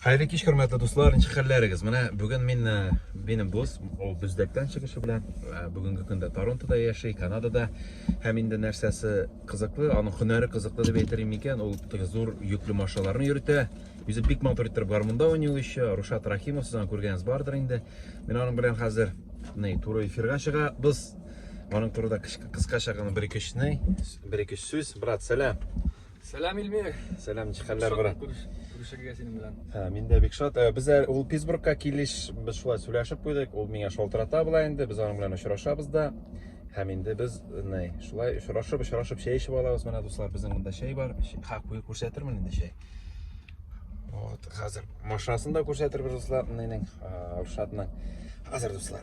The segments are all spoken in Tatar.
Хәерле кич, хөрмәтле дуслар, ничек хәлләрегез? Менә бүген мин э, минем дус, ул Бүздәктән чыгышы белән, э, бүгенге көндә Торонтода яши, Канадада. Һәм инде нәрсәсе кызыклы, аның һөнәре кызыклы дип әйтер микән, ул теге зур йөкле машиналарны йөртә. Үзе бик матур итеп гармунда уйный ул еще. Рушат Рахимов сезнең күргәнегез бардыр инде. Мин аның белән хәзер ни туры эфирга чыга. Без аның турында кыскача гына бер-ике бер-ике сүз, брат, сәлам. Сәлам Илмир. Сәлам җихәнләр брат. Күрешергә синең белән. Ә, мин дә бик шат. Ә, Без ә, ул Питтсбургка килеш без шулай сөйләшеп куйдык. Ул миңа шалтырата була инде. Без аның белән очрашабыз да. Һәм инде без ней, шулай очрашып, очрашып чәй эчеп алабыз. Менә дуслар, безнең монда чәй бар. Чәй- Ха, куй күрсәтермен инде чәй. Вот, хәзер машинасын да күрсәтербез дуслар, нинең, Рушатның. Хәзер дуслар.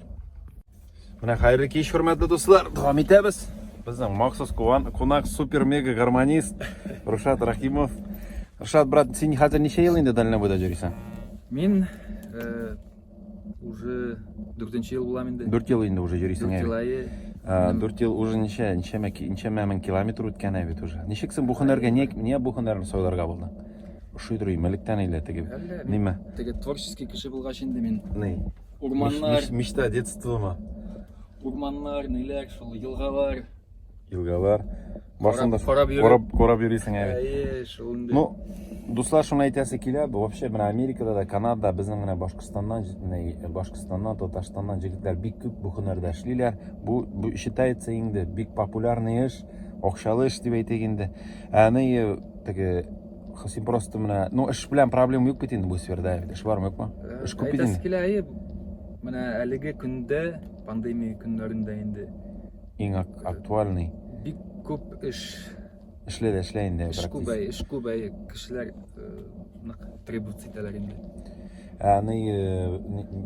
Менә хәерле кич, хөрмәтле дуслар. Дәвам итәбез. Безнең махсус куан, кунак супер мега гармонист Рушат Рахимов. Рушат брат, син хәзер ничә ел инде дальнобойда йөрисең? Мин э, уже 4 ел булам инде. 4 ел инде уже йөрисең. 4 ел. 4 ел уже ничә, ничә ничә мең километр үткән ә бит уже. Ничек син бу һөнәргә, не, не бу һөнәрне сойларга булдың? Ошый дөрөй, мәлектән әйлә теге. Ниме? Теге творческий кеше булгач инде мин. Ни? Урманнар. Мечта детства ма? Урманнар, ниләр, шул елгалар. Елгалар. Барсында кораб кораб кораб йөрисең әле. Әйе, шул инде. Ну, дуслар шуны әйтәсе килә, вообще менә Америкада да, Канадада, безнең менә Башкортстаннан, Башкортстаннан, Татарстаннан җегетләр бик күп бу һөнәрдә эшлиләр. Бу бу считается инде бик популярный эш, акчалы эш дип әйтик инде. Әни теге Син просто менә, ну эш белән проблема юк бит инде бу сферда. Эш бармы юкмы? Э, эш күп бит инде. Килә, әйе. Менә әлеге көндә, пандемия көннәрендә инде иң актуальный. Бик күп эш эшле дә эшлә инде. Эш күп, эш күп, кешеләр э, нык требовать итәләр инде. Ә ни э,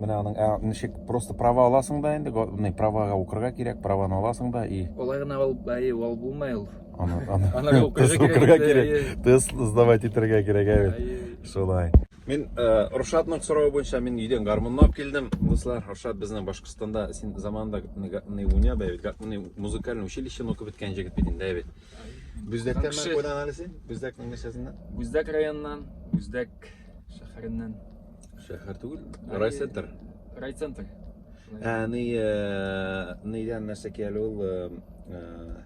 менә аның ә ничек просто права аласың да инде, ни правага укырга кирәк, праваны аласың да и. Олай гына ул, әйе, ул булмай ул. Аны тест укырга кирәк, тест сдавать итәргә кирәк, әйт. Шулай. Мин э, Рушатның сорауы буенча мин өйдән гармунны алып килдем. Дуслар, Рушат безнең Башкортстанда син заманында гатны уйна да бит, гатны музыкаль училищены укып беткән җегет бит инде, әйт. Бүздәктән мен куйдан алысы? Бүздәкнең нәрсәсеннән? Бүздәк районыннан, Бүздәк шәһәреннән. Шәһәр түгел, райцентр. Райцентр. Ә, ни, э, нидән нәрсә кияли ул? Э,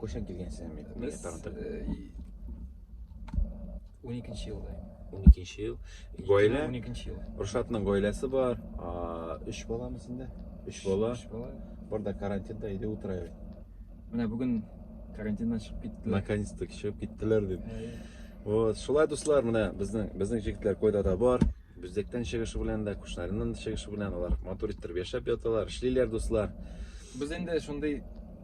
Кайчан килгәнсез инде? Без уникенче елда. Уникенче ел. Гаилә? Уникенче ел. Рушатның гаиләсе бар. Өч баламы сендә? Өч бала. Өч бала. Бар да карантинда иде утырайбыз. Менә бүген карантиннан чыгып киттеләр. Наконец-то чыгып киттеләр дип. Вот, шулай дуслар, менә безнең безнең җегетләр койда да бар. Бүздектән чыгышы белән дә, Кушнариннан да чыгышы белән алар матур иттереп яшәп яталар, эшлиләр дуслар. Без инде шундый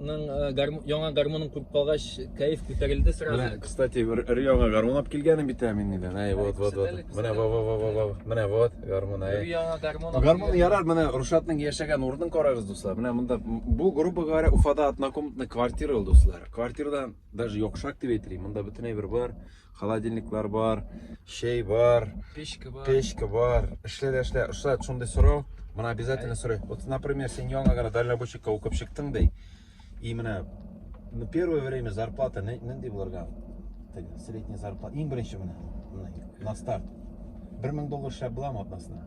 Ның, э, гарм- яңа гармонын күреп калгач, кәеф күтәрелде сразу. Менә, кстати, өр- өр-яңа гармун алып килгәнем бит ә мин нидән. Әй, вот, вот, вот. Күрсәтәле, Менә, күрсәтәле. во, во, во, во, во. Менә вот, гармун, әй. Яңа гармон. алып Гармун килгән. ярар, менә Рушатның яшәгән урынын карагыз, дуслар. Менә монда м, бу грубо говоря Уфада однокомнатный квартира ул, дуслар. Квартирадан даже йокшак дип әйтелә. Монда бөтенләй бер бар. Холодильниклар бар, чәй бар, печка бар. Печка бар. Эшлә дә эшлә. Ошат шундый сорау, моны обязательно сорый. Вот, например, син яңа гына дальнобойщикка укып чыктың ди. И менә ну, первое время зарплата нинди булырга? Средняя зарплата. Иң беренче менә на старт. 1000 доллар шәп буламы атнасына?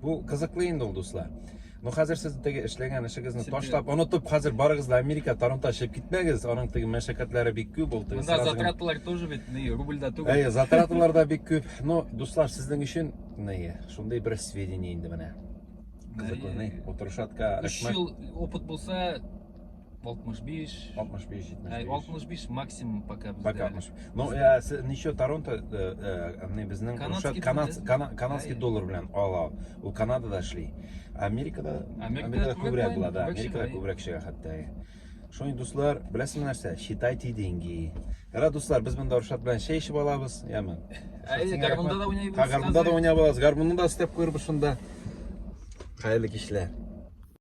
Бу кызыклы инде ул, дуслар. Ну, хәзер сез теге эшләгән эшегезне ташлап, онытып, хәзер барыгыз да Америка, Торонто чыгып китмәгез. Аның теге мәшәкатьләре бик күп ул. Теге Монда затраталар тоже бит, не, рубльда түгел. Әйе, затраталар да бик күп. Ну, дуслар, сезнең өчен, не, шундый бер сведение инде менә. Кызыклы, не, утырышатка. 3 ел опыт булса, 65. 65, 75. Ә, 65 максимум пока бездә. Пока 60. Ну, ә, э, ничә Торонто, э, э, не безнең Рушат канадский, канадский доллар белән ала. Ул Канадада эшли. Америкада, Америкада күбрәк була, да. Америкада күбрәк чыга хәтта. Шуның дуслар, беләсезме нәрсә? Считайте деньги. Ра дуслар, без монда Рушат белән чәй эчеп алабыз, яме. Әйе, гармунда да уйнап алабыз. Гармунда да уйнап алабыз. Гармунда да степ күрбез шунда. Хәерле кичләр.